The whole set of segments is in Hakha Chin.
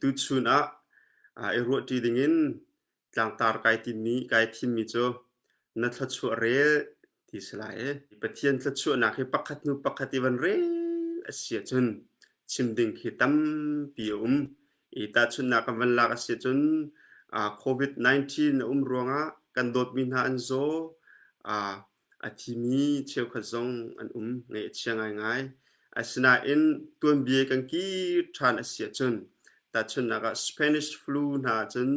tuchun ah i ruahṭi dingin tlangtar kai timmi kai thimmi cu na thluachuah rel ti si lai i Pathian thluachuahnak hi pakhat hnu pakhat i van rel a si ahcun chim ding khi tampi a um i tahchunhnak kan van lak a si ahcun covid-19 a um ruangah kan dawtmi hna an zaw a thimi cheukhat zong an um ngaih a chia ngaingai. Asinain tuanbia kan kir ṭhan a si ahcun tahchunhnak ah Spanish flu hna cun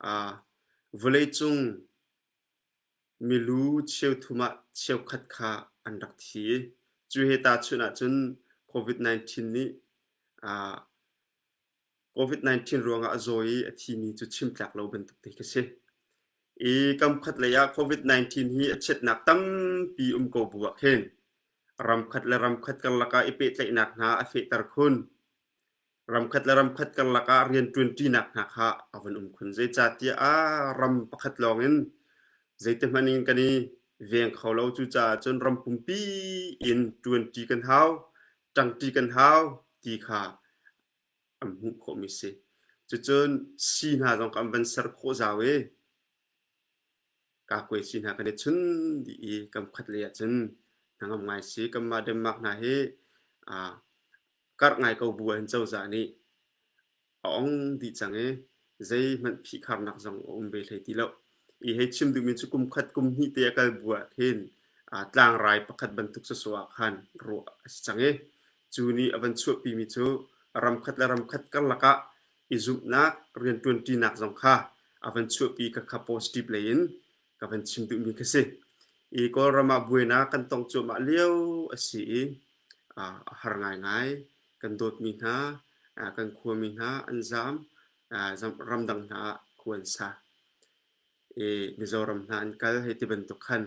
ah vawleicung milu cheuthum ah cheukhat kha an rak thi. Cu he tahchunh ahcun COVID-19 nih ah COVID-19 ruangah a zawi i a thimi cu chim tlak lo bantuk te khi si. I kam khat lei ah COVID-19 hi a chiatnak tampi um ko bu ah khin ramkhat le ramkhat karlak ah i pehtlaihnak hna a fehter khun. Ramkhat le ramkhat karlak ah rianṭuanṭinak hna kha a van um khun. Zeicahtiah a ram pakhat lawng in zeitihmanh in kan i veng kho lo. Cucaah cun ram pumpi in ṭuanṭi kan hau. ṭangṭi kan hau ti kha an hmuh khawhmi a si. Cucun si hna zong kha an van ser khawh zau i Kakwe si hna kan i chun dih i kan khuatlei ah cun hnangam ngai si kanmah Denmark hna hi karh ngai ko bu ah hin cozah nih a ong dih cang i zeihmanh phihkharnak zong a um ve hlei ti lo. I hei chim duhmi cu kum khat kum hnih te a kal bu ah khin aa tlangrai pakhat bantuk sawsawh ah khan ruah a si cang i cu nih a van chuahpimi cu ramkhat le ramkhat karlak ah i zumhnak rianṭuanṭinak zong kha a van chuahpi ka kha positive lei in ka van chim duhmi khi si. I Kawlram ah buainak kan tong cuahmah lio a si i a har ngaingai. kan dawtmi hna, kan khuami hna an zaam, ramdang hna ah khu an sa. I Mizoram hna an kal hei ti bantuk khan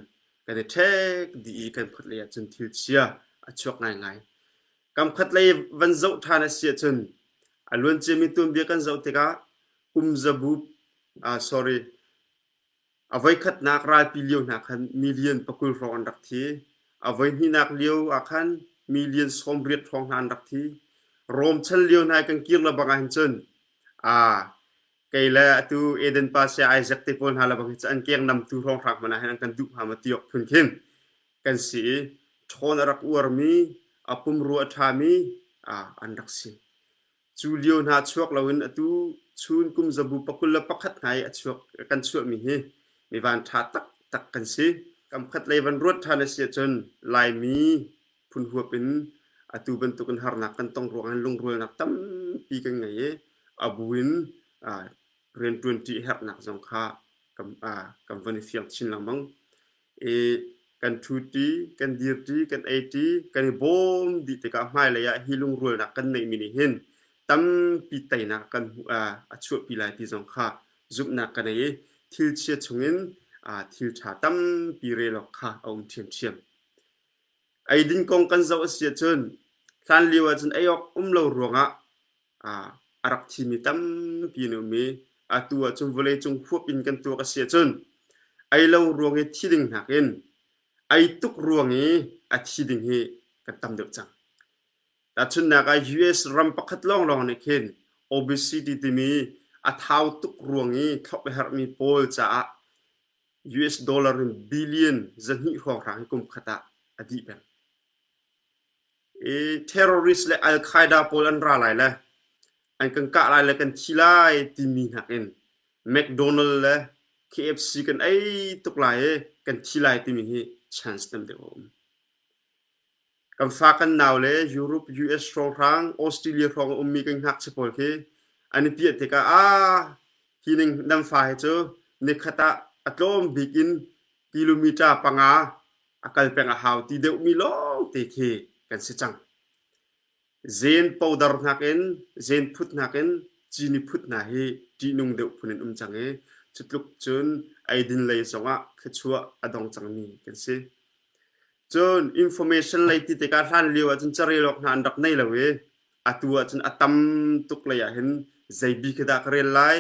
kan i ṭhek dih i kan khuatlei ah cun thil chia a chuak ngaingai. Kam khatlei van zoh ṭhan a si ahcun a luanciami tuanbia kan zoh tikah kum zabu, ah sorry, A voikhatnak ralpi lio hna khan million pakul hrawng an rak thi. A voihnihnak lio ah khan million sawmriat hrawng hna an rak thi. Rom chan lio hna kan kir le bang ah hin cun aa kei le atu Eden pa sia Isaac te pawl hna le bang hi cu an kenghnamtu hrawng hraak hmanh ah hin an kan duh hnga ma ti awk phun khin kan si i ṭhawn a rak uarmi, a pumrua a ṭhami an rak si. Cu lio hna chuak loin atu chun kum zabu pakul le pakhat ngai a chuak kan chuahmi hi mi van ṭha taktak kan si. Kamkhat lei van ruat ṭhan a si ahcun Laimi phunhuap in atu bantukin harnak kan tong ruangah lungrualnak tampi kan ngei i a bu in rianṭuanṭi a herhnak zong kha kan van i fiang chin lengmang. i kan ṭhuṭi, kan dirṭi, kan eiṭi, kan i bawm dih tikah hmailei ah hi lungrualnak kan neihmi nih hin tampi teinak kan hmuh a chuahpi lai ti zong kha zumhnak ka nei i thil chia chungin thil ṭha tampi relawk kha a um ṭhiamṭhiam. Eidin kong kan zoh a si ahcun hlanlio ahcun ei awk um lo ruangah a rak thimi tampi an um i atu ah cun vawleicung huap in kan tuak a si ahcun ei lo ruang i thi ding nakin ei tuk ruang i a thi ding hi kan tam deuh cang. Tahchunhnak ah US ram pakhat lawnglawng nih khin obesity timi a thau tuk ruang i thlop a herhmi pawl caah US dollar in billion zahnih hrawnghrang hi kum khat ah a dih peng. terrorist le Al Qaeda pawl an ra lai le an kan kah lai le kan thi lai timi nakin McDonald le KFC kan ei tuk lai i kan thi lai timi hi chance tam deuh a um. Kan fa kan nau le Europe, US hrawlhrang, Australia hrawng a ummi kan ngakchia pawl khi an i piah tikah aa hi ning nan fa hi cu nikhat ah a tlawm bik in kilometre panga a kal peng a hau ti deuhmi lawngte khi kan si cang. Zen powder hnak in, zen phut hnak in cini phut hna hi ṭihnung deuh phun in um cang i cutluk cun eidin lei zongah thluachuah a dong cangmi kan si. Cun information lei ti tikah hlan lio ahcun carel awk hna an rak nei lo i atu ahcun a tam tuk lei ahhin zeibi khi dah ka rel lai,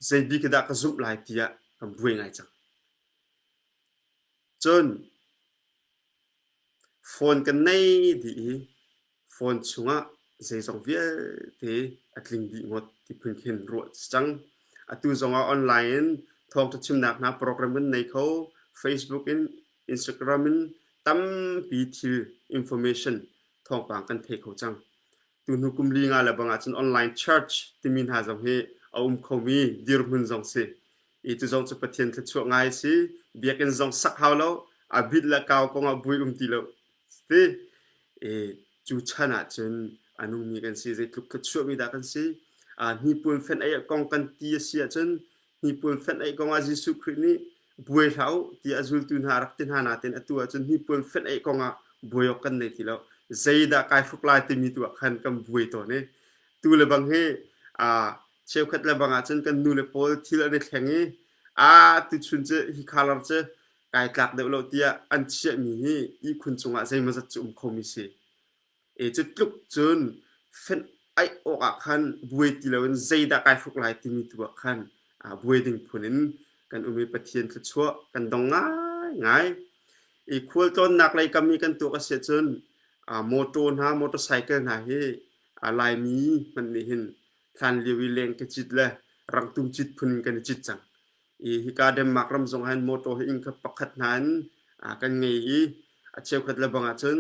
zeibi khi dah ka zumh lai tiah kan buai ngai cang. Cun phone kan nei dih i phone chungah zeizong vialte a tling dih ngawt ti phun khin ruah a si cang. Atu zongah online in thawng ṭhachimnak hna program kan nei kho. Facebook in, Instagram in tampi thil information thawngpang kan thei kho cang. Tunu kum li nga le bang ahcun online church timi hna zong hi a um khomi dirhmun zong si. I cu zong cu Pathian thluachuah ngai si. Biakinn zong sak hau lo. A bit le kau kongah buai um ti lo ti. I cu chan ahcun a nungmi kan si. Zeitluk thluachuah mi dah kan si. Uh, hnipuan fenh ei kong kan ti a si ahcun Hnipul fenh ei kongah Jesuh Khrih nih buai hlah u ti a zultu hna rak ti hna natin atu ahcun hnipul fenh ei kongah buai awk kan nei ti lo. Zeidah kai hruk lai timi tu ah khan kan buai tawn i tu le bang hi aa cheukhat le bang ahcun kan nu le pawl thil an i thleng i a tuchun cu hi khalar cu kai tlak deuh lo tiah an chiahmi hi ihkhun cungah zeimazat cu um khomi si. E cutluk cun fenh aih awk ah khan buai ti loin zeidah kai hruk lai timi tu ah khan aa buai ding phun in kan um i Pathian thluachuah kan dong ngaingai. I khualtlawnnak lei kam i kan tuah ka si ahcun aa mawtaw hna, motorcycle hna hi aa Laimi hmanh nih hin hlan lio i leng ka cit le rangtum cit phun in kan i cit cang. i hika Denmark ram zong hin motor hi inn khat pakhat hna in kan ngei i a cheukhat le bang ahcun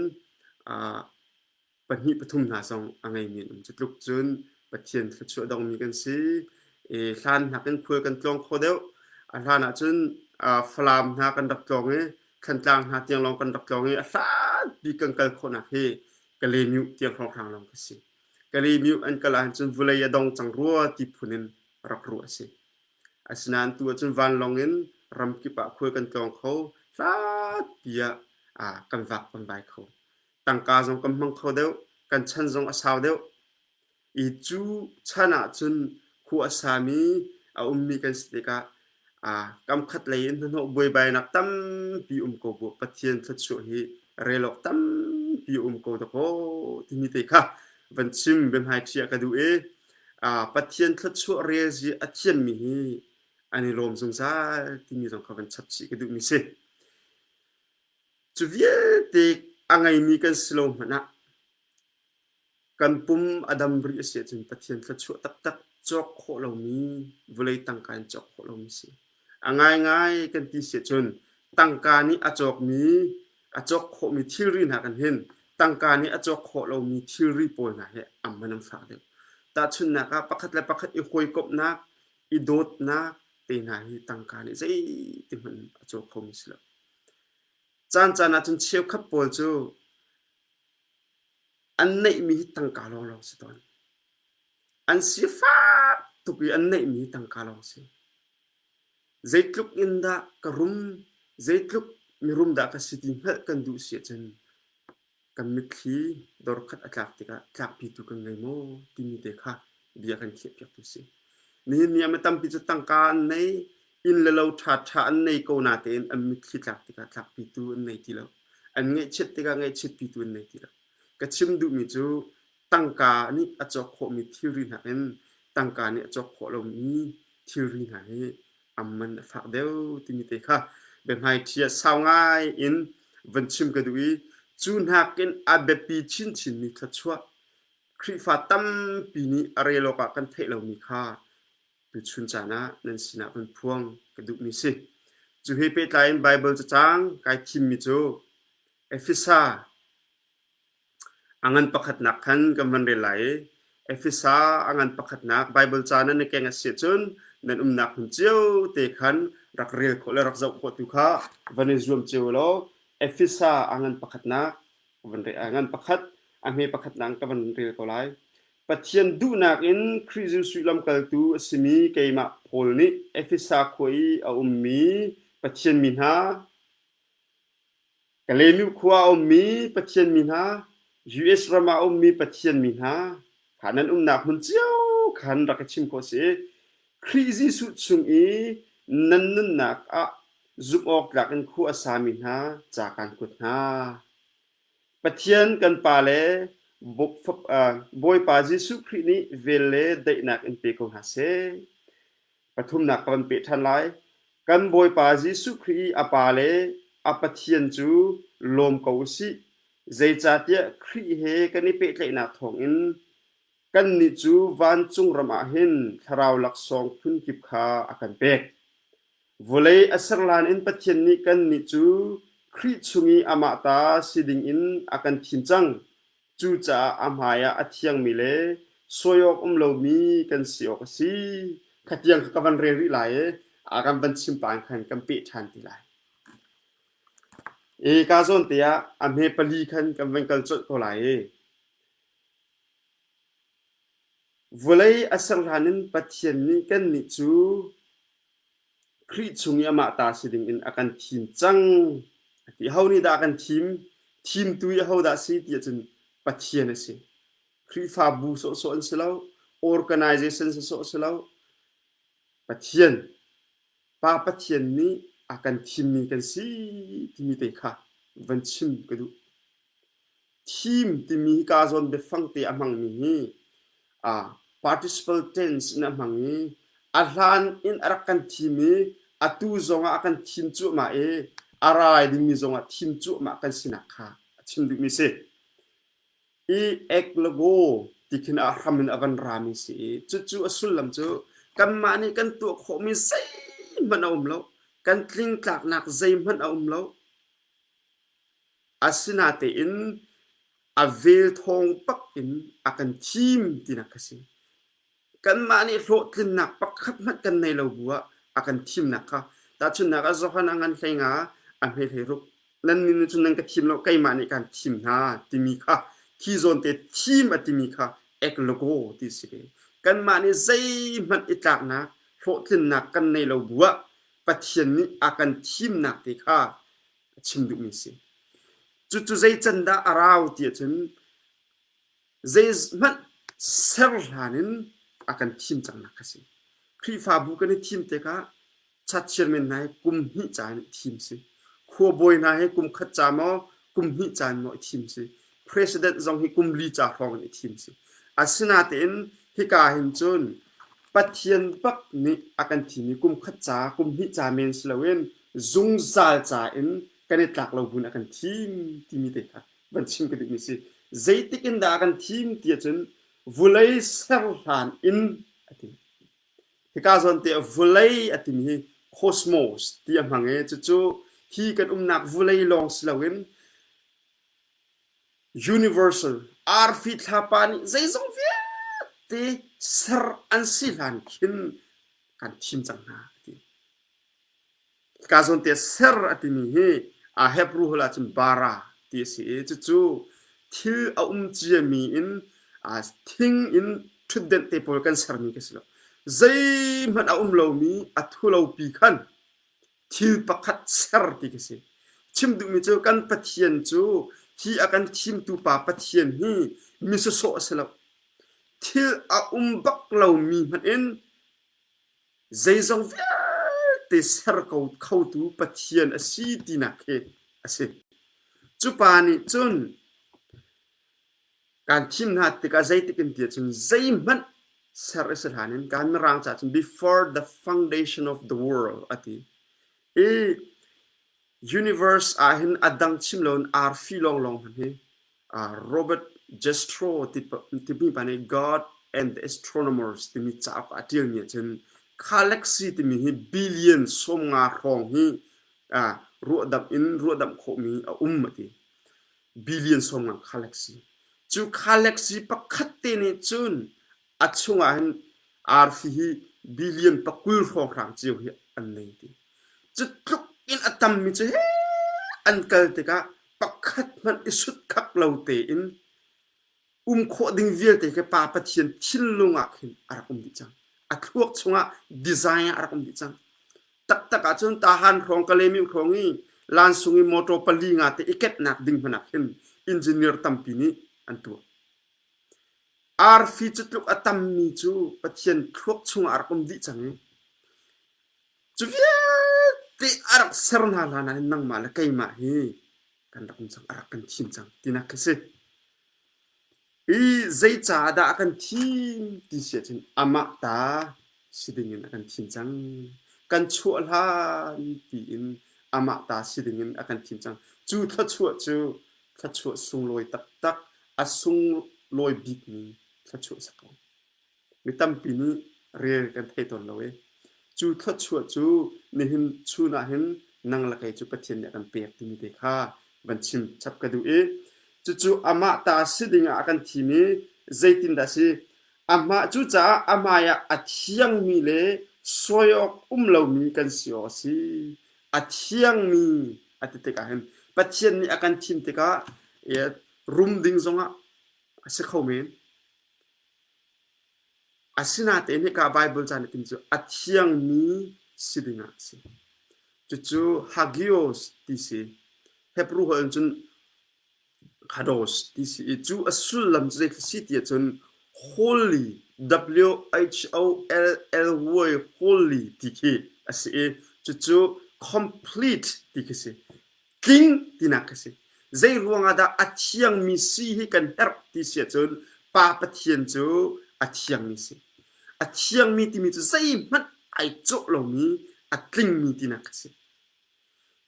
pahnih pathum hna zong a ngeimi an um cu tluk cun Pathian thluachuah dongmi kan si i hlan nakin khual kan tlawng kho deuh a hlan ahcun Falam hna kan rak tlawng i Thantlang hna tiang lawng kan rak tlawng i a hlanpi kan kal khawhnak hi Kalemyu tiang hrawnghrang lawng ka si Kalemyu an kal ahcun vulei a dong cang rua ti phun in rak ruah a si Asinain tu ahcun vanlawng in ram kip ah khual kan tlawng kho. Hlatpi ah aa kan vak kan vai kho. Tangka zong kan hmang kho deuh. Kan chan zong a sau deuh. I cu chan ahcun khua a sami, a ummi kan si tikah aa kam khat lei in hnahnawh buaibainak tampi um ko bu. Pathian thluachuah hi relawk tampi um ko dakaw timi te kha van chim, biahmaiṭhi ah ka duh i Pathian thluachuah rel hi a thiammi hi an i lawm zungzal timi zong kha van chap chih ka duhmi si. Cu vialte a ngeimi kan si lo hmanh ah kan pum a dam rih a si ahcun Pathian thluachuah taktak cawk khawh lomi vawlei tangka in cawk khawh lomi a si. A ngaingai kan ti siah cun tangka nih a cawkmi a cawk khawhmi thilri hna kan hin tangka nih a cawk khawh lomi thilri pawl hna hi an hman an fak deuh. Tahchunhnak ah pakhat le pakhat i hawikomhnak, i dawtnak te hna hi tangka nih zeiti hmanh a caw khomi si lo. Caan caan ahcun cheukhat pawl cu an neihmi hi tangka lawnglawng si tawn. An sifak tuk i an neihmi tangka lawng a si. Zeitluk in dah ka rum, zeitluk mirum dah ka si ti hngalh kan duh si ahcun kan mitthli dorkhat a tlak tikah tlakpitu kan ngei maw timi te kha bia kan khiahpiaktu si. Nihin ni ah mi tampi cu tangka an nei, inn le lo ṭhaṭha an nei ko natein an mitthli tlak tikah tlakpitu an nei ti lo. An ngaihchiat tikah ngaihchiatpitu an nei ti lo. Ka chim duhmi cu tangka nih a cawk khawhmi thilri hna in tangka nih a cawk khawh lomi thilri hna hi am man a fak deuh timi te kha biahmaiṭhi ah sau ngai in van chim ka duh i cu nakin a biapi chinchinmi thluachuah Khrihfa tampi nih a relawk ah kan theih lomi kha tuchun caan ah nan sinah kan phuang ka duhmi si. Cu he pehtlai in Baibal cacang kai thimmi cu Efesa A ngan pakhatnak khan kan van rel lai i Efesa a ngan pakhatnak Baibal ca nan i keng a si ahcun nan umnak hmun cio te khan rak rel khawh le rak zoh khawh tu kha van i zuam cio law Efesa a ngan pakhatnak ka van rel a ngan pakhat a hme pakhatnak ka van rel ko lai. Pathian duhnak in Khrih Jesuh lamkaltu a simi keimah Paul nih Efesa khua i a ummi Pathian mi hna, Kaleynu khua a ummi Pathian mi hna, US ram ah a ummi Pathian mi hna kha nan umnak hmun cio kha an rak i chim khawh a si. Khrih Jesuh chung i nan nunnak ah zumhawktlak in khua a sami hna ca kaan kuat hna. Pathian kan Pa le Bawipa Jesuh Khrih nih vel le daihnak in pe ko hna seh. pathumnak ka van peh ṭhan lai. Kan Bawipa Jesuh Khrih i a Pa le a Pathian cu lawm ko u sih. Zeicahtiah Khrih he kan i pehtlaihnak thawngin kannih cu vancung ram ah hin thlarau laksawng phunkip kha a kan pek. Vawlei a ser hlan in Pathian nih kannih cu Khrih chung i amah ta si dingin a kan thim cang. Cucaah a hmaiah a thiangmi le suai awk um lomi kan si awk a si. Khatiang kha ka van rel rih lai i a kan van chim pang khan kan peh ṭhan ti lai. E ka zawn te ah a hme pali khan kan van kal colh ko lai i vawlei a ser hlan in Pathian nih kannih cu Khrih chung i amah ta si dingin a kan thim cang a ti. Ho nih dah a kan thim? Thimtu i aho dah si ti ahcun Pathian a si. Khrihfabu sawhsawh an si lo. Organization sawhsawh si lo. Pathian, Pa Pathian nih a kan thimmi kan si timi te kha van chim ka duh. theme timi hi kaa zawn biafang te a hmangmi hi uh, participle tense in a hmang i a hlan in a rak kan thim i atu zongah a kan thim cuahmah i a rai dingmi zongah thim cuahmah kan sinak kha a chim dingmi si i eklogo ti khin a hram in a van rami si i cucu a sullam cu kanmah nih kan tuah khawhmi zeihmanh a um lo kan tling tlaknak zeihmanh a um lo Asinatein a vel thawng pak in a kan thim tinak ka si. Kanmah nih hlawhtlinnak pakhat hmanh kan nei lo bu ah a kan thimnak kha tahchunhnak ah Johan Angan Hlenga a hme hlei ruk nan nih nih cun nan ka thim lo keimah nih kaan thim hna timi kha khi zawn te thim a timi kha eclogo ti si ve. Kanmah nih zeihmanh i tlaknak hlawhtlinnak kan nei lo bu ah Pathian nih a kan thimnak te kha a chim duhmi si. Cucu zei can dah a rau ti ahcun zei hmanh ser hlan in a kan thim cangnak a si. Khrihfabu kan i thim tikah cha chairman hna hi kum hnih ca in thim si. Khuabawi hna hi kum khat ca maw kum hnih ca in maw i thim si. president zong hi kum li ca hrawng in i thim si. Asinatein hika hin cun Pathian bak nih a kan thim i kum khat ca, kum hnih ca men si loin zungzal ca in kan i tlak lo buin a kan thim timi te kha van chim ka duhmi si. Zeitik in dah a kan thim ti ahcun vulei ser hlan in a ti. Hika zawnte vulei a timi hi cosmos ti a hmang i cucu hi kan umnak vulei lawng si loin Universal arfi thlapa nih zeizong vialte ser an si hlan khin kan thim cang hna a ti. Ka zawn te ser a timi hi a Hebrew hol ahcun bara ti a si i cucu thil a um ciami in aa thing in ṭhutdenh te pawl kan sermi ka si lo. Zeihmanh a um lomi a thulopi khan thil pakhat ser ti ka si. Chim duhmi cu kan Pathian cu hi a kan thimtu pa Pathian hi mi sawsawh a si lo. Thil a um bak lomi hmanh in zeizong vialte ser ko khotu Pathian a si tinak hi a si. Cupa nih cun kan thim hna tikah zeitik in ti ahcun zeihmanh ser a si hlan in kan Mirang ca cun before the foundation of the world a ti i universe ah hin a dang chim loin arfi lawnglawng hmanh hi uh, Robert Gestro timi pa nih God and the Astronomers timi cauk a ṭialmi ahcun galaxy timi hi billion sawmnga hrawng hi uh, ruahdamh in ruahdamh khawhmi a um a ti billion sawmngang galaxy cu galaxy pakhat te nih cun a chungah hin arfi hi billion pakul hrawkhrang cio hi an nei ti cu tluk in a tammi cu he an kal tikah pakhat hmanh i sut khak lo tein um khawh ding vialte ke pa Pathian thinlung ah khin a rak um dih cang a thluak chungah design ah a rak um dih cang taktak ahcun tahan hrawng kalemim hrawng i lansung i motor pali nga te i ketnak ding hmanak hin engineer tampi nih an tuah arfi cutluk a tammi cu Pathian thluak chungah a rak um dih cang i cu vialte a rak ser hna hlan ah nangmah le keimah hi kan rak um cang, a rak kan thim cang tinak khi si. I zeicaah dah a kan thim ti si ahcun amah ta si dingin a kan thim cang. Kan chuah hlan tiin amah ta si dingin a kan thim cang. Cu thluachuah cu thluachuah sunglawi taktak, a sunglawi bikmi thluachuah si ko. Mi tampi nih rel kan thei tawn lo i cu thluachuah cu nihin chun ah hin nang le kei cu Pathian nih a kan pek timi te kha van chim chap ka duh i cucu amah ta si ding ah a kan thim i zeitin dah si amah cu caah amai ah a thiangmi le suai awk um lomi kan si awk a si a thiangmi a ti tikah hin Pathian nih a kan thim tikah rum ding zongah a si kho men Asinatein hika Baibal ca nakin cu a thiangmi si dingah a si. Cucu hagios ti si. Hebrew holh in cun hados ti si i cu a sullam cu zeithil si ti ahcun holy W-H-O-L-L-Y holy ti khi a si i cucu complete ti khi si. tling tinak ka si zei ruangah dah a thiangmi si hi kan herh ti si ahcun pa pathian cu a thiangmi si a thiangmi timi cu zeihmanh ai cawh lomi a tlingmi tinak ka si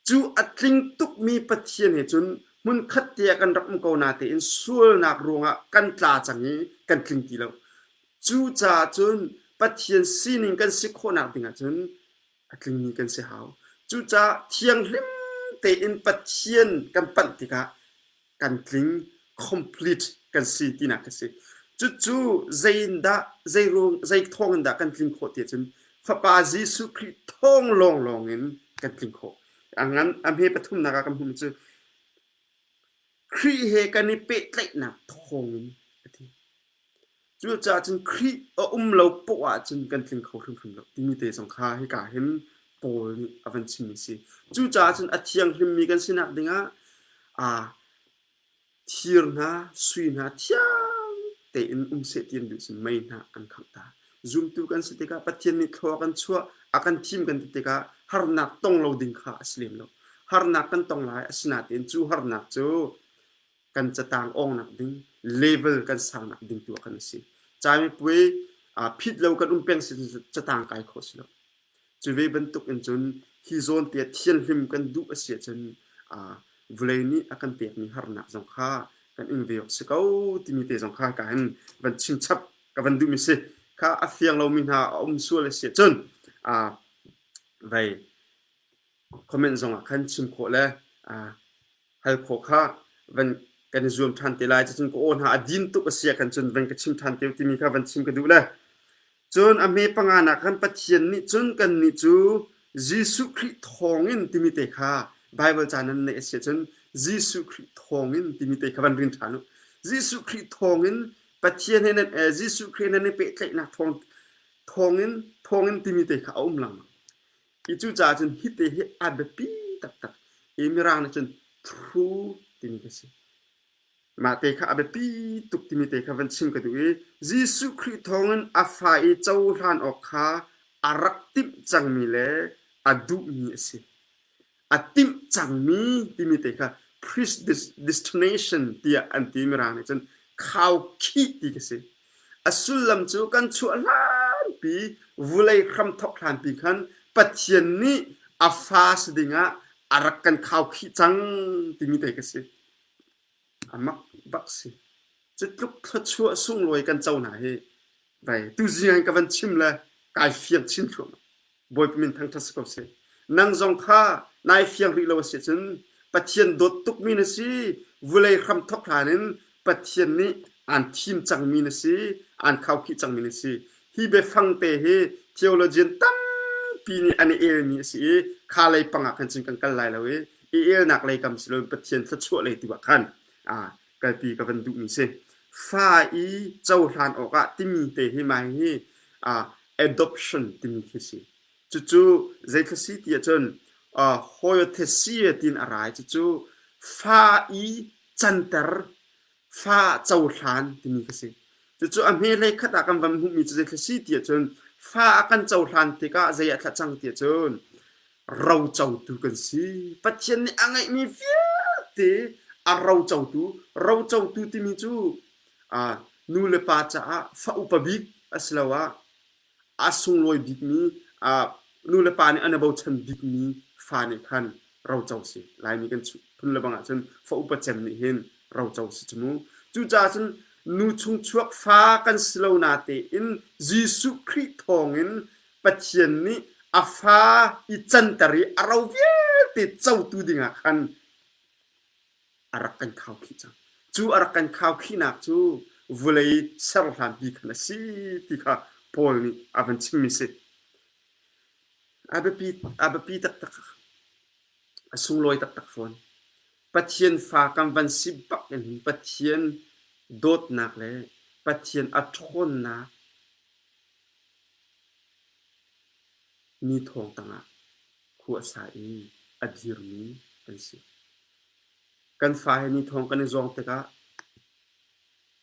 cu a tling tukmi pathian he cun hmunkhat te ah kan rak um ko natein sualnak ruangah kan tla cang i kan tling ti lo cucaah cun pathian sining kan si khawhnak dingah cun a tlingmi kan si hau. Cucaah thianghlim tein Pathian kan panh tikah kan tling complete kan si tinak ka si. Cucu zeiindah, zeiruang, zei thawng in dah kan tling khawh ti ahcun Fapa Jesuh Khrih thawng lawnglawng in kan tling khawh. A ngan, a hme pathumnak ah kan hmuhmi cu Khrih he kan i pehtlaihnak thawng in a ti. Cucaah cun Khrih a um lo poh ahcun kan tling kho hrimhrim lo timi te zong kha hika hin Paul nih a van chimmi a si. Cucaah cun a thianghlimmi kan si nak dingah aa thir hna, sui hna thiang tein um seh ti an duh si mei hna an khangh ta. Zumtu kan si tikah Pathian nih thlua kan chuah, a kan thim kan ti tikah harnak tong lo ding kha a si lem lo. Harnak kan tong lai, asinain cu harnak cu kan catang awng nak ding level kan sang nak ding tu kan si cami pui phit lo kan um peng si catang kai kho si lo cu ve bantuk in cun hi zone te thian hlim kan duh a sia cun vulei nih a kan pek mi harnak zong kha kan in ve si ko timi te zong kha ka in van chim chap ka van duh mi si kha a fiang lo mi hna a um sual a sia cun vei comment zong ah khan chim khawh le hal khawh kha van kan i zuam ṭhan te lai. Cun ka aw hna a din tuk a si ah khan cun van ka chim ṭhan te u timi kha van chim ka duh le. Cun a hme panga nak khan Pathian nih cun kannih cu Jesuh Khrih thawngin timi te kha Baibal ca nan neih a si ahcun Jesuh Khrih thawngin timi te kha van ring ṭhan u. Jesuh Khrih thawngin Pathian he nan Jesuh Khrih he nan i pehtlaihnak thawngin thawngin timi te kha a um lengmang. Hi cu caah cun hite hi a biapi taktak i Mirang nih cun thru timi ka si. Mah te kha a biapi tuk timi te kha van chim ka duh i Jesuh Khrih thawngin a fa i cohlan awk kha a rak timh cangmi le a duhmi a si. A timh cangmi timi te kha Christ destination tiah an ti Mirang nih cun khau khih ti ka si. A sullam cu kan chuah hlanpi vulei hramthawk hlanpi khan Pathian nih a fa si dingah a rak kan khaukhih cang timi te ka si. A mak bak si. Cutluk thluachuah sunglawi kan co hna hi. Vai, tuzing ka van chim le kai fiang chin thluahmah. Bawipa min thangṭhat si ko seh. Nang zong kha nai fiang rih lo a si cun Pathian dawt tukmi na si. Vulei hram thawk hlan in Pathian nih aan thim cangmi na si, aan khaukhih cangmi na si. Hi biafangte hi theologian tampi nih an i elmi a si i kha lei pangah khan cun kan kal lai lo i i elnak lei kam si loin Pathian thluachuah lei tu ah khan kalpi ka van duhmi si. Fa i cohlan awkah timi te hi mai hi uh, adoption timi khi si. Cucu zeikhla si ti ahcun uh, hoiothesia tin a rai cucu fa i canter fa cohlan timi khi si. Cucu a hme lei khat ah kan van hmuhmi cu zeikhla si ti ahcun fa a kan cohlan tikah zei a thla cang ti ahcun rocotu kan si. Pathian nih a ngeihmi vialte a rocotu, rocotu timi cu aa, nu le pa caah fa upa bik asiloah a sunglawi bikmi, aa, nu le pa nih an i bochan bikmi fa nih khan roco si. Laimi kan phun le bang ahcun fa upa cem nih hin roco si cu mu. Cucaah cun nu chung chuak fa kan si lo natein Jesuh Khrih thawngin Pathian nih a fa i canter i a ro vialte cotu dingah khan a rak kan khau khih cang. Cu a rak kan khau khihnak cu vulei serhlanpi khan a si ti kha Paul nih a van chimmi si. A biapi, a biapi taktak. A sunglawi taktak fawn. Pathian fa kan van si bak in Pathian dawtnak le Pathian a ṭhawnnak Mi thawng tangah khua a sa i a dirmi an si. Kan fa he mi thawng kan i zawng tikah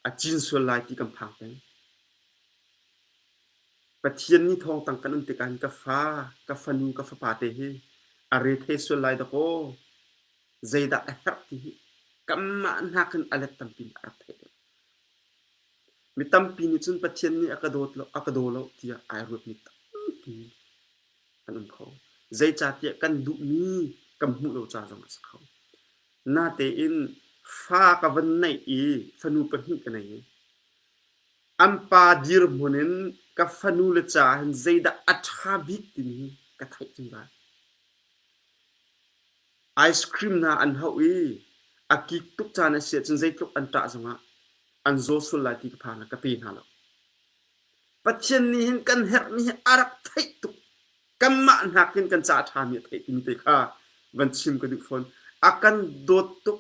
a cin sual lai ti kan phang peng. Pathian nih thawng tang kan um tikah hin ka fa, ka fanu, ka fapa te hi a re thei sual lai dakaw. Zeidah a herh ti hi kanmah nakin a let tampi in a rak theih deuh. Mi tampi nih cun Pathian nih a ka dawt lo, a ka daw lo tiah ai ruatmi tampi an um kho. Zeicahtiah kan duhmi kan hmuh lo ca zong a si kho. Natein fa ka van neih i fanu pahnih ka nei i an pa dirhmun in ka fanu le ca hin zeidah a ṭha bik timi hi ka theih ṭung lai. ice cream hna an hauh i a kik tuk caan a si ahcun zeitluk an ṭah zongah an zaw sual lai ti ka phan ka pe hna lo. Pathian nih hin kan herhmi hi a rak theih tuk kanmah nakin kan ca ṭhami a theih timi te kha van chim ka duh fawn. A kan dawt tuk.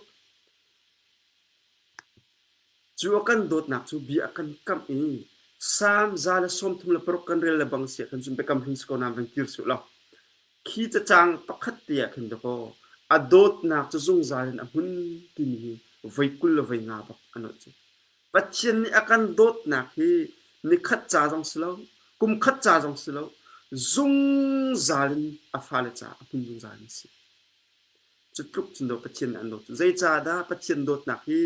Cu a kan dawtnak cu bia a kan kamh i Psalm za le sawm thum le paruk kan rel le bang si ahkhan cun biakam hring si ko na van kir suh law Khi cacang pakhat te ah khin dakaw a dawtnak cu zungzal in a hmun timi hi voi kul le voi nga bak a nolh cu. Pathian nih a kan dawtnak hi ni khat ca zong si lo, kum khat ca zong si lo, zungzal in a fale caah a hmun zungzal in a si. Cu tluk cun do Pathian nih an dawt cu. Zeicahdah Pathian dawtnak hi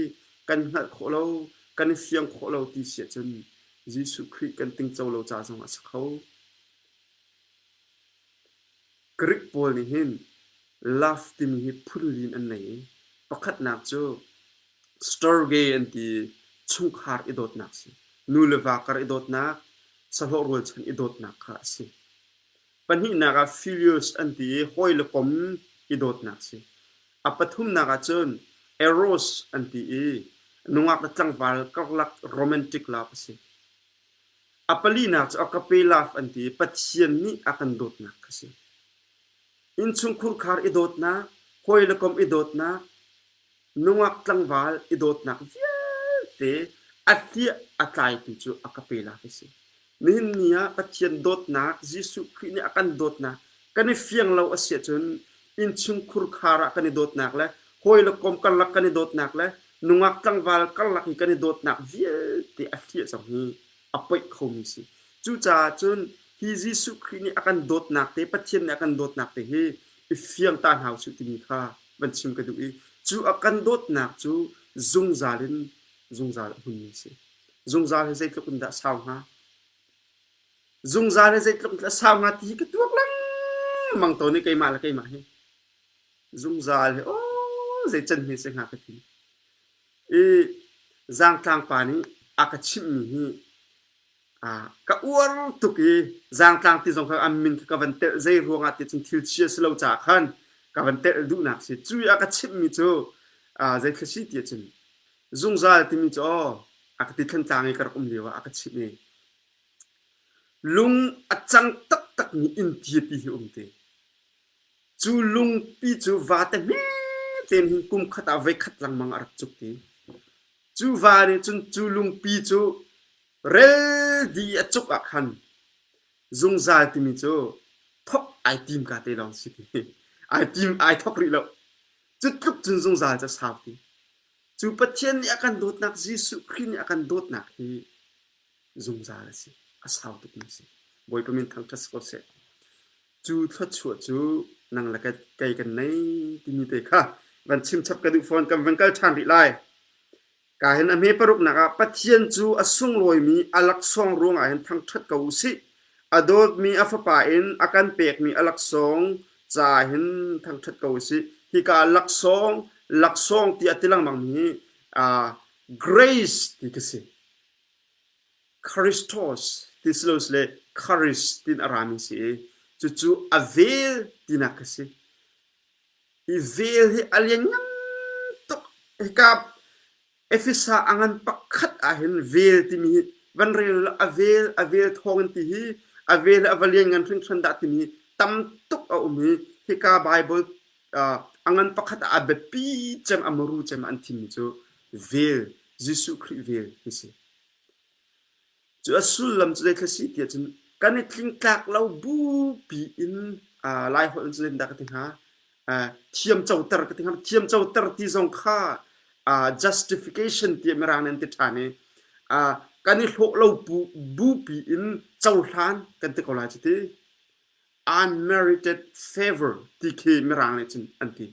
kan hngalh khawh lo, kan i fiang khawh lo ti si ahcun Jesuh Khrih kan tingco lo ca zong a si kho. Greek pawl nih hin love timi hi phunlin an ngei i pakhatnak cu storge an ti chungkhar i dawtnak a si. Nu le va kar i dawtnak, sahlawh rualchan i dawtnak kha a si. Pahnihnak ah filius an ti i hawi le kom i dawtnak a si. A pathumnak ah cun eros an ti i nungak le tlangval karlak romantic love a si. A palinak cu Agapelaf an ti i Pathian nih a kan dawtnak kha a si. Innchungkhur khar i dawtnak, hawi le kom i dawtnak, nungak tlangval i dawtnak vialte a hliah a tlaitu cu a kapelaf a si. Nihin ni ah Pathian dawtnak, Jesuh Khrih nih a kan dawtnak kan i fiang lo a si ahcun innchungkhur khar ah kan i dawtnak le hawi le kom karlak kan i dawtnak le Nungak tlangval karlak in kan i dawtnak vialte a hliah cang hi a poih khomi si. Cucaah cun hi Jesuh Khrih nih a kan dawtnak te, Pathian nih a kan dawtnak te hi i fiang ta hna usih timi kha van chim ka duh i cu a kan dawtnak cu zungzal in zungzal a hmunmi si. Zungzal he zeitluk in dah sau hnga? Zungzal he zeitluk in dah sau hnga ti hi ka tuak lengmang tawn i keimah le keimah hi. zungzal hi aw zei can hme seh nga ka ti i zangtlang pa nih a ka chimhmi hi a ka uar tuk i zangtlang ti zong kha an min kha ka van telh zei ruangah ti cun thil chia si lo caah khan ka van telh duhnak si cu a ka chimhmi cu a zei thil si ti cun zungzal timi cu aw a ka ti thantlang i ka rak um lio ah a ka chimh i lung a cang taktakmi inn tiapi hi um te Cu lungpi cu vate hmetein hin kum khat ah voi khat lengmang a rak cuk i cu va nih cun cu lungpi cu rel dih i a cuk ah khan zungzal timi cu thok ai tim ka te lawng si ti. Ai tim ai thok rih lo. Cu tluk cun zungzal cu a saupi. Cu Pathian nih a kan dawtnak Jesuh Khrih nih a kan dawtnak hi zungzal a si. A sau tukmi a si. Bawipa min thangṭhat si ko seh. Cu thluachuah cu nang le kei kan nei timi te kha van chimchap ka duh fawn kan van kal ṭhan rih lai. Ka hin a hme paruknak ah Pathian cu a sunglawimi a laksawng ruangah hin thangṭhat ko u sih. A dawtmi a Fapa in a kan pekmi a laksawng ca hin thangṭhat ko u sih. Hika laksawng, laksawng tiah ti lengmang mi hi, uh, grace ti ka si. Christos ti si lo sile Charis tiin a rami si i cucu a vel tinak a si. Hi vel hi a lianngan tuk. Hika Efesa a ngan pakhat ahhin vel timi hi van rel u a vel, a vel thawngin ti hi a vel hi a va lianngan hringhran dah timi hi tam tuk a um i hika Bible uh, a ngan pakhat ah a biapi cem a muru cem ah an thimmi cu vel, Jesuh Khrih vel hi si. Cu a sullam cu zei thil a si tiah cun kan i tlingtlak lo bupi in aa Laiholh in zeitindah ka ti hnga? Aa thiamcoter ka ti hnga. Thiamcoter ti zong kha aa justification ti ah mirang nih an ti ṭhan i aa kan i hlawh lo bupi in cohlan kan ti ko lai cu ti. unmerited favor ti khi mirang nih cun an ti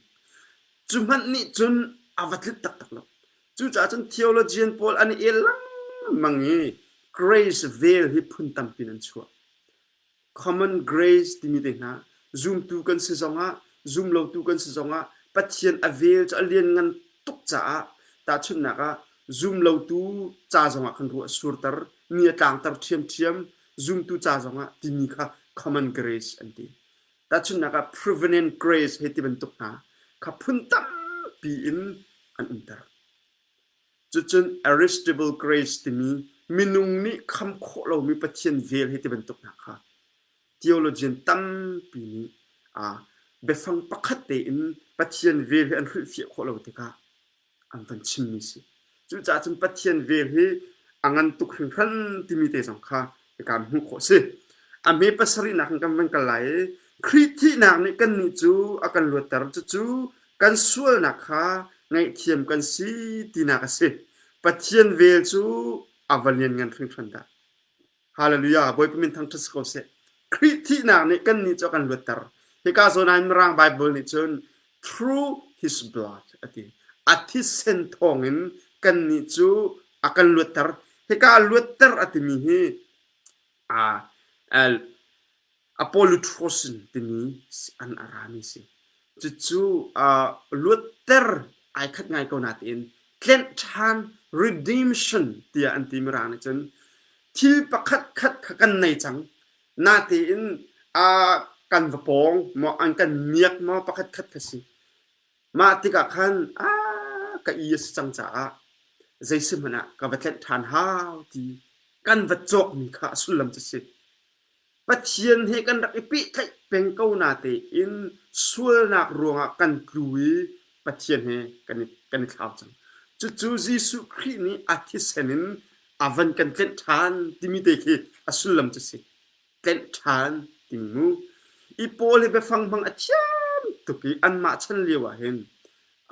cu hmanh nih cun a va tlit taktak lo cucaah cun theologian pawl an i el lengmang i grace vel hi phun tampi in an chuah common grace timi te hna zumtu kan si zongah zumlotu kan si zongah pathian a vel cu a lianngan tuk caah tahchunhnak ah zumlotu ca zongah khan ruah a surter mi a tlangter ṭhiamṭhiam zumtu ca zongah timi kha common grace an ti. Tahchunhnak ah provenant grace he ti bantuk hna kha phun tampi in an umter. Cucun aristable grace timi minung nih kham khawh lomi Pathian vel he ti bantuk hna kha theologian tampi nih a biafang pakhat tein Pathian vel he an hrilhfiah khawh lo tikah an van chimmi si. Cucaah cun Pathian vel hi a ngan tuk hringhran timi te zong kha kan hmuh khawh si. A hme pasarihnak in kan van kal lai i Khrih thihnak nih kannih cu a kan luatter. Cucu kan sualnak kha ngaihthiam kan si tinak a si. Pathian vel cu a va lianngan hringhran dah! Hallelujah, Bawipa min thangṭhat si ko seh. Khrih thihnak nih kannih cu a kan luatter. Hika zawn ah Mirang Bible nih cun through his blood a ti. A thisen thawngin kannih cu a kan luatter. Hika luatter a timi hi aa Apolotros in timi an arami si. Cucu luatter ai khat ngai ko nain tlenh ṭhan redemption tiah an timi ra nih cun thil pakhat khat kha kan nei cang. Natein kan va pawng maw an kan miak maw pakhat khat kha si. Mah tikah khan ka i a si cang caah zei si hmanh ah ka va tlenh ṭhan hau ti kan va cawkmi kha a sullam cu si. Pathian he kan rak i pehtlaih peng ko natein sualnak ruangah kan tlu i Pathian he kan i, kan i thlau cang. Cucu Jesuh Khrih nih a thisen in a van kan tlenh ṭhan timi te khi a sullam cu si. Tlenh ṭhan timi mu. I Paul hi biafang hmang a thiam tuk i anmah chan lio ah hin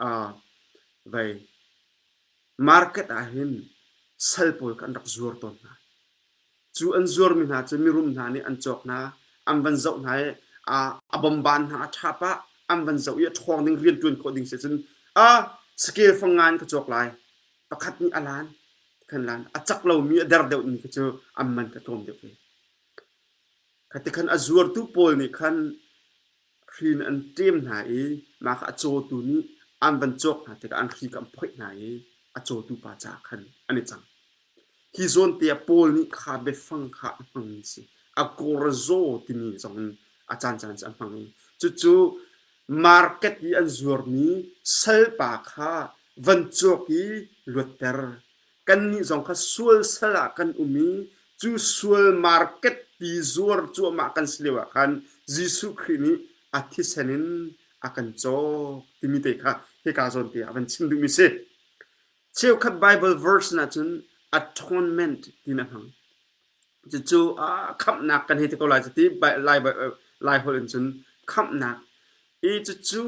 uh, vai market ah hin sal pawl kha an rak zuar tawn hna. Cu an zuarmi hna cu mirum hna nih an cawk hna, an van zoh hna i a bomban hna, a tha pah, an van zoh i a ṭhawng ding rianṭuan khawh ding si cun a scale fanga in ka cawk lai, pakhat nih a lan, kan lan, a cak lomi, a der deuhmi kha cu an man ka tlawm deuh ve. Kha tikhan a zuartu pawl nih khan hrin an ṭem hna i mah kha a cawtu nih an van cawk hna tikah an hri kha an phoih hna i a cawtu pa caah khan an i cang. Hi zawnte ah Paul nih kha biafang kha a hmangmi a si. A korzaw timi zong in a caancaan cu a hmang i cucu market i an zuarmi salpa kha van cawk i luatter. Kannih zong kha sual sal ah kan um i cu sual market ti zuar cuahmah kan si lio ah khan Jesuh Khrih nih a thisen in a kan cawk timi te kha hika zawn te ah van chim duhmi si. Cheukhat Bible verse in ahcun atonement ti na hmang. Cucu khamhnak kan hei ti ko lai cu ti Lai holh in cun khamhnak. I cucu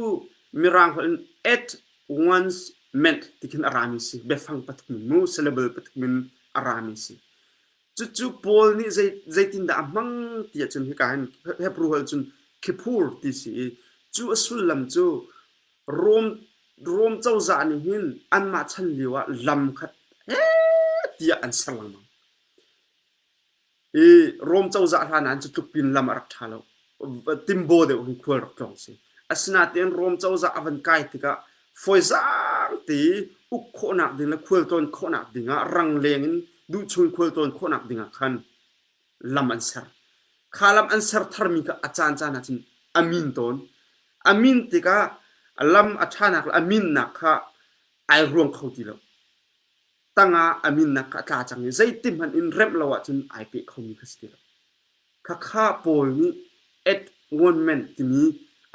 Mirang holh in at once meant ti khin a rami si. Biafang pathum in mu, syllable pathum in a rami si. Cucu Paul nih zeitindah a hmang ti ahcun hika hin Hebrew holh cun Kippur ti si i cu a sullam cu Rom cozah nih hin anmah chan lio ah lam khat tiah an ser lengmang. I Rome cozah hla nan cu tluk pin lam a rak ṭha lo. Timbo deuh in khual rak tlawng si. Asinain Rome cozah a van kai tikah fawizaang te uk khawhnak ding le khual tlawn khawhnak dingah rangleng in duhchung khual tlawn khawhnak dingah khan lam an ser. Kha lam an ser tharmi kha a caancaan ah cun a min tawn. A min tikah lam a ṭhanak le a minnak kha ai ruang kho ti lo. tangah a minnak a tla cang i zeiti hmanh in remh lo ahcun ai peh khomi kha si ti lo. Khakha pawl nih atonement timi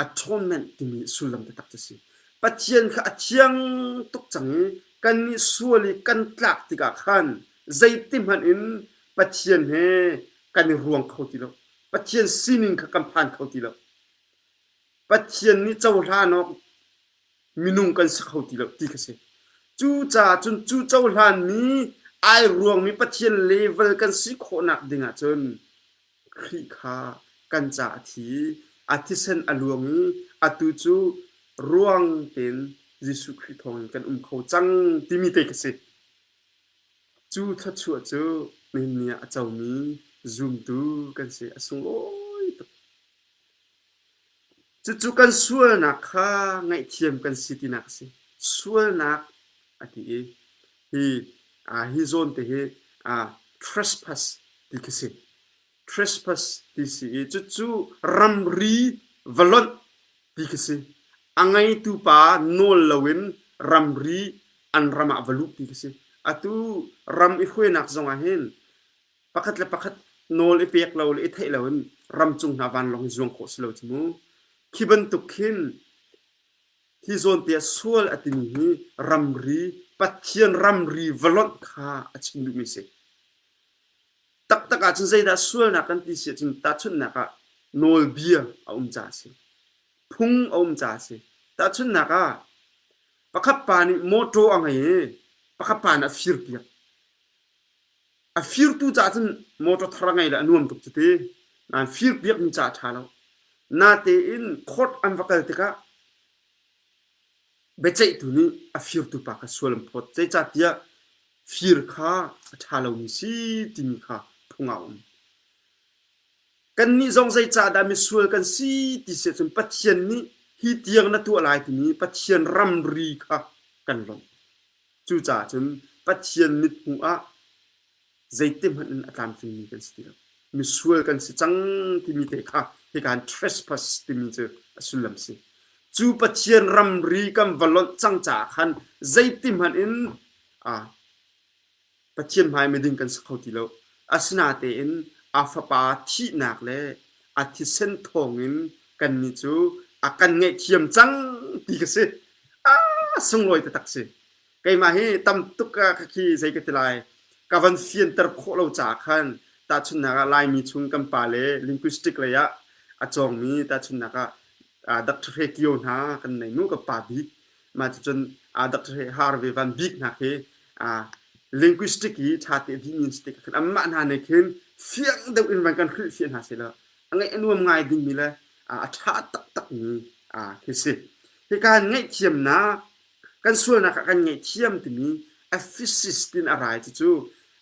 atonement timi sullam taktak cu si. Pathian kha a thiang tuk cang i kannih sual i kan tlak tikah khan zeiti hmanh in Pathian he kan i ruang kho ti lo. Pathian sining kha kan phan kho ti lo. Pathian nih cohlan awk Minung kan si kho ti lo ti kha si. Cucaah cun cu cohlanmi ai ruangmi Pathian level kan si khawhnak ding ah cun Khrih kha kan caah a thi i a thisen a luang i atu cu ruang tein Jesuh Khrih thawngin kan um kho cang timi te ka si. Cu thluachuah cu nihin ni ah a comi zumtu kan si a sunglawi tuk. Cucu kan sualnak kha ngaihthiam kan si tinak a si. Sualnak a ti i hi aa hi zawn te hi aa trespass ti khi si. Trespass ti si i cucu ramri va lonh ti khi si. A ngeitu pa nawl loin ramri an ram ah va luh ti khi si. Atu ram i hruainak zongah hin pakhat le pakhat nawl i pek lo le i theih loin ramcung hna vanlawng i zuang khawh si lo cu mu. Khi bantuk khin hi zawntia sual a timi hi ramri Pathian ramri va lonh kha a chim duhmi a si. Taktak ahcun zeidah sualnak kan ti si ahcun tahchunhnak ah nawlbia a um ca a si. Phung a um ca a si. Tahchunhnak ah pakhat pa nih mawṭaw a ngei i pakhat pa nih a firpiak. A firtu ca cun motor thar a ngei le a nuam tuk cu ti. Nain fir piakmi ca a ṭha lo. Natein court an va kal tikah biaceihtu nih a firtu pa kha sual an phawt. Zeicahtiah fir kha a ṭha lomi si timi kha phung ah a um. Kannih zong zeicahdah misual kan si ti si ahcun Pathian nih hi tiang na tuah lai timi Pathian ramri kha kan lawmh. Cucaah cun Pathian mithmuh ah zeitihmanh in a tlamtlingmi kan si ti lo. Misual kan si cang timi te kha hi kan trespass timi cu a sullam si. Cu Pathian ramri kan va lonh cang caah khan zeitihmanh in Pathian hmai miding kan si kho ti lo. Asinatein a Fapa thihnak le a thisen thawngin kannih cu a kan ngaihthiam cang ti ka si. A sunglawi taktak si. Keimah hi tam tuk ah khi zei ka ti lai, ka van fianter khawh lo caah khan tahchunhnak ah Laimi chung kan pale linguistic lei ah a cawngmi tahchunhnak ah Dr. Hre Kio hna kan nei mu, ka pa bik. mah cun aa dak harve van bik hna khi linguistic i ṭha te ding in stik khan amah hna nih khin fiang deuh in van kan hrilhfiah hna sela a ngaih a nuam ngai dingmi le a ṭha taktakmi khi si hi kan ngaihthiamnak kan sualnak ah kan ngaihthiam timi effisis tin a rai cu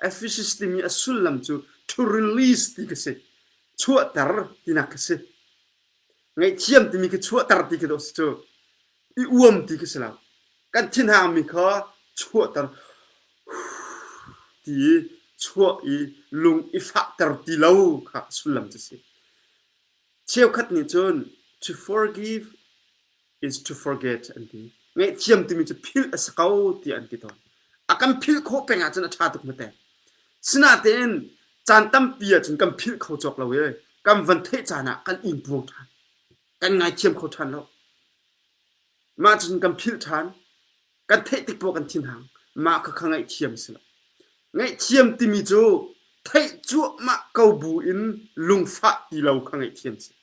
effisis timi a sullam cu to release ti ka si chuahter tinak ka si ngaihthiam timi khi chuahter ti ka do si cu i uam ti khi si lo. Kan thinhangmi kha chuahter ti i chuah i lung i fahter ti lo kha a sullam cu a si. Cheukhat nih cun to forgive is to forget an ti. Ngaihthiam timi cu philh a si ko tiah an ti tawn. A kan philh khawh peng ahcun a ṭha tuk hmete. Sinain caan tampi ahcun kan philh kho cawk lo i kan van theih caan ah kan in puang ṭhan. kan ngaithiam kho ṭhan lo. Mah cun kan philh ṭhan. Kan theih tik poah kan thinhang. Mah kha kha ngaihthiam a si lo. Ngaihthiam timi cu theih cuahmah ko bu in lungfah ti lo kha ngaihthiam a si.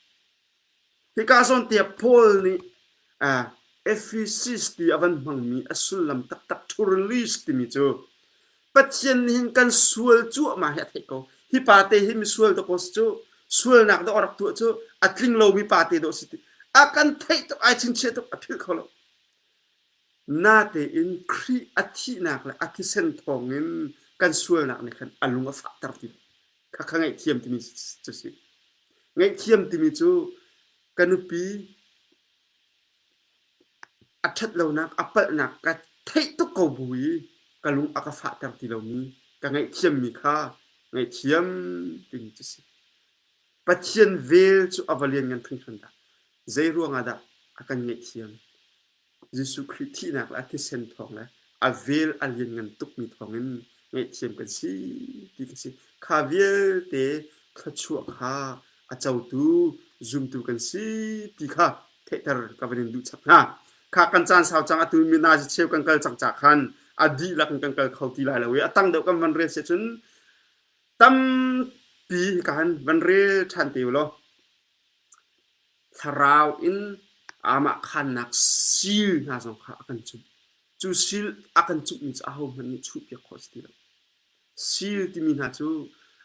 Hika zawntiah Paul nih Ephesus ti a van hmangmi a sullam taktak Turlis timi cu Pathian nih hin kan sual cuahmah hi a theih ko. Hi pate hi misual dawh ko si cu, sualnak dawh rak tuah cu a tling lomi pate dawh si ti. A kan theih tuk, ai chinchiah tuk, a philh kho lo. Natein Khrih a thihnak le a thisen thawngin kan sualnak nih khan a lung a fahter ti lo. Kha kha ngaihthiam timi cu si. Ngaihthiam timi cu ka nupi A ṭhatlonak a palhnak ka theih tuk ko bu i ka lung a ka fahter ti lomi ka ngaihthiammi kha ngaihthiam timi cu a si. Pathian vel cu a va lianngan hringhran dah! Zeiruangah dah a kan ngaihthiam? Jesuh Khrih thihnak le a thisen thawng le a vel a lianngan tukmi thawngin ngaihthiam kan si ti kan si. Kha vialte thluachuah kha a cotu zumtu kan si ti kha theihter ka van in duh chap hna. Kha kan caan sau cang atu mi nazi cheu kan kal cang ca khan a dihlak in kan kal kho ti lai lo i a tang deuh kan van rel si cun tampi kan van rel ṭhan te u law Thlarau in aamah khaannak seal hna zong kha a kan chumh. Cu seal a kan chumhmi cu ahohmanh nih chuhpiak khawh a si ti lo. Seal timi hna cu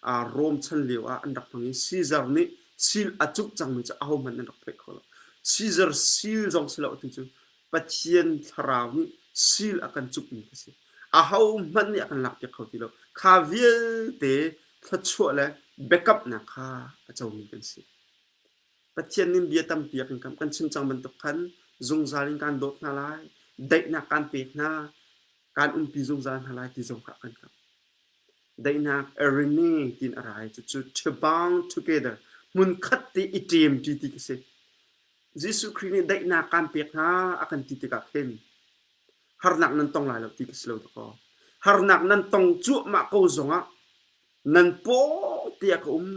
aa Rom chan lio ah an rak hmang i Caesar nih seal a cumh cangmi cu ahohmanh an rak phoih kho lo. Caesar seal zong si lo atu cu Pathian thlarau nih sil a kan cukmi ka si. Ahohmanh nih a kan lakpiak kho ti lo. Kha vialte thluachuah le biakamnak kha a comi kan si. Pathian nih bia tampi a kan kamh. Kan chim cang bantuk khan zungzal in kaan dawt hna lai. Daihnak kaan pek hna. Kaan umpi zungzal hna lai ti zong kha a kan kamh. Daihnak areni tiin a ra i cucu ṭhibang together hmunkhat te i ṭemṭi ti ka si. Jesuh Khrih nih daihnak kaan pek hna a kan ti tikah khin harnak nan tong lai lo ti ka si lo dakaw. Harnak nan tong cuahmah ko zongah nan paw tiah ka um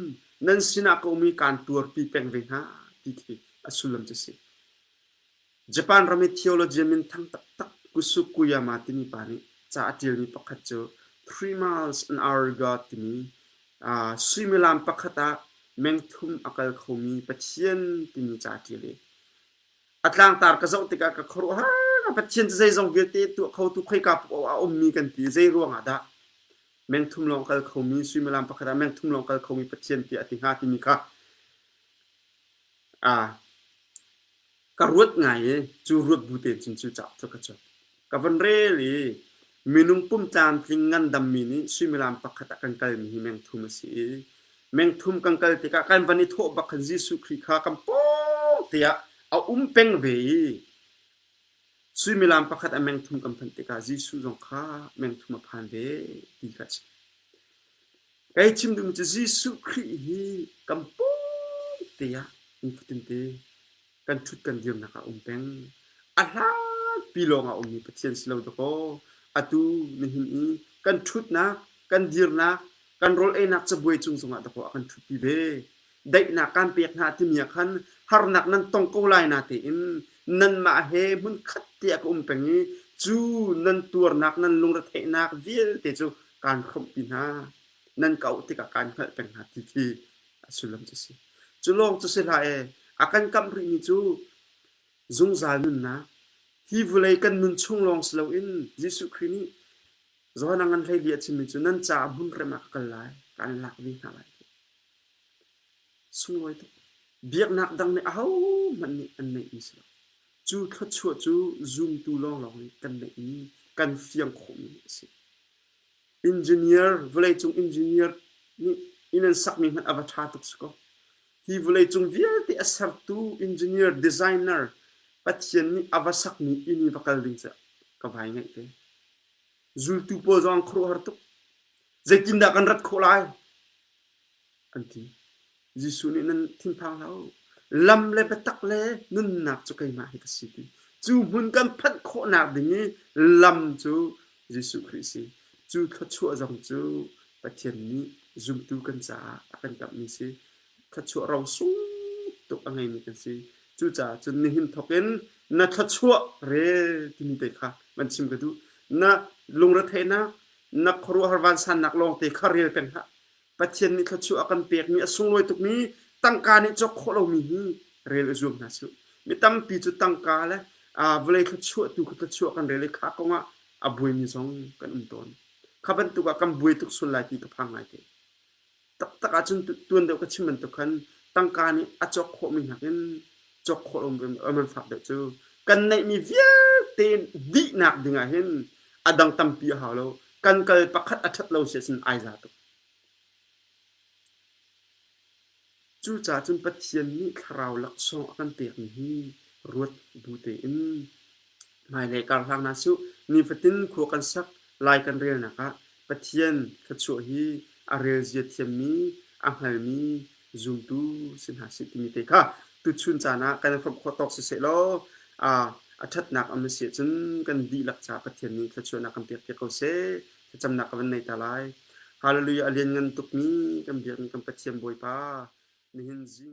nan sinah ka um i kaan tuarpi peng ve hna ti khi a sullam cu si. Japan ram i theologian minthang taktak Kusu Kuyama timi pa nih ca a ṭialmi pakhat cu Three Miles an Hour God timi Suimilam pakhat ah mengthum a kal khomi Pathian timi ca ṭial i a tlangtar ka zoh tikah ka khuaruahhar. Pathian cu zeizong vialte tuah khotu khoika paoh ah a ummi kan ti. Zeiruangah dah mengthum lawng kal khomi, suimilam pakhat ah mengthum lawng kal khomi Pathian tiah a ti hnga timi kha ka ruat ngai i cu ruat bu te cun cu cauk cu ka cuanh. Ka van rel i minung pum tlamtling ngandammi nih suimilam pakhat ah kan kalmi hi mengthum a si i mengthum kan kal tikah kan van i thawh bak khan Jesuh Khrih kha kan paw tiah a um peng ve i suimilam pakhat a mengthum kan phanh tikah Jesuh zong kha mengthum a phan ve ti kha a si. Kei chim ding cu Jesuh Khrih hi kan pawng te ah kum fatin te kan ṭhut kan dirnak ah a um peng. A hlanpi lawng ah a ummi Pathian si lo dakaw atu nihin i kan ṭhutnak, kan dirnak, kan rawl einak cabuai cung zongah dakaw a kan ṭhutpi ve. daihnak kaan pek hna timi ah khan harnak nan tong ko lai na tein nanmah he hmunkhat te a ka um peng i cu nan tuarnak nan lungretheihnak vialte cu kaan khawmhpi hna nan ka auh tikah kaan hngalh peng hna ti khi a sullam cu si cu lawng cu si hlah e a kan kamh rihmi cu zungzal nunnak hi vulei kan nun chung lawng si loin Jesuh Khrih nih Johan a ngan hlei li a chimmi cu nan caah hmunrem ah ka kal lai kaan lak ve hna lai Sunglawi tuk. Biaknak dang nih ahohmanh nih an neihmi si lo. Cu thluachuah cu zumtu lawnglawng nih kan neihmi, kan fiang khawhmi a si. Engineer, vawleicung engineer nih inn an sakmi hmanh a va ṭha tuk si ko. Hi vawleicung vialte a sertu engineer, designer Pathian nih a va sakmi inn i va kal ding cu ka vai ngaih te. Zultu pawl zong an khuaruahhar tuk. Zeitindah kan rat khawh lai? An ti. Jesuh nih nan thinphang hlah u. Lam le biatak le nunnak cu keimah hi ka si ti. Cu hmun kan phanh khawhnak ding i lam cu Jesuh Khrih si. Cu thluachuah zong cu Pathian nih zumtu kan caah a kan kamhmi si. Thluachuah rosung tuk a ngeimi kan si. Cucaah cun nihin thawkin na thluachuah re timi te kha van chim ka duh. Na lungretheinak na khuaruahhar vansannak lawngte kha rel peng hlah. Pathian nih thluachuah a kan pekmi a sunglawi tukmi tangka nih cawk khawh lomi hi rel i zuam hna sih. Mi tampi cu tangka le vawlei thluachuah tu thluachuah kan rel i kha kongah a buaimi zong kan um tawn. Kha bantuk ah kan buai tuk sual lai ti ka phang ngai te. taktak ahcun tuan deuh ka chim bantuk khan tangka nih a cawk khawhmi nakin cawk khawh an van fak deuh cu kan neihmi vialte dihnak dingah hin a dang tampi a hau lo kan kal pakhat a ṭhat lo siasin ai za tuk cucaah cun Pathian nih thlarau laksawng a kan pekmi hi ruat bu tein Hmailei karhlang hna suh, nifatin khua kan sak lai kan relnak ah Pathian thluachuah hi a relzia thiammi, a hngalmi zumtu si hna sih timi te kha tuchun caan ah kan hrawmh khawh tawk siseh law a, a ṭhatnak a si ahcun kan dihlak caah Pathian nih thluachuahnak kan pek piak ko seh, thlacamnak ka van nei ta lai. Hallelujah a lianngan tukmi kan biakmi kan Pathian Bawipa, nihin zing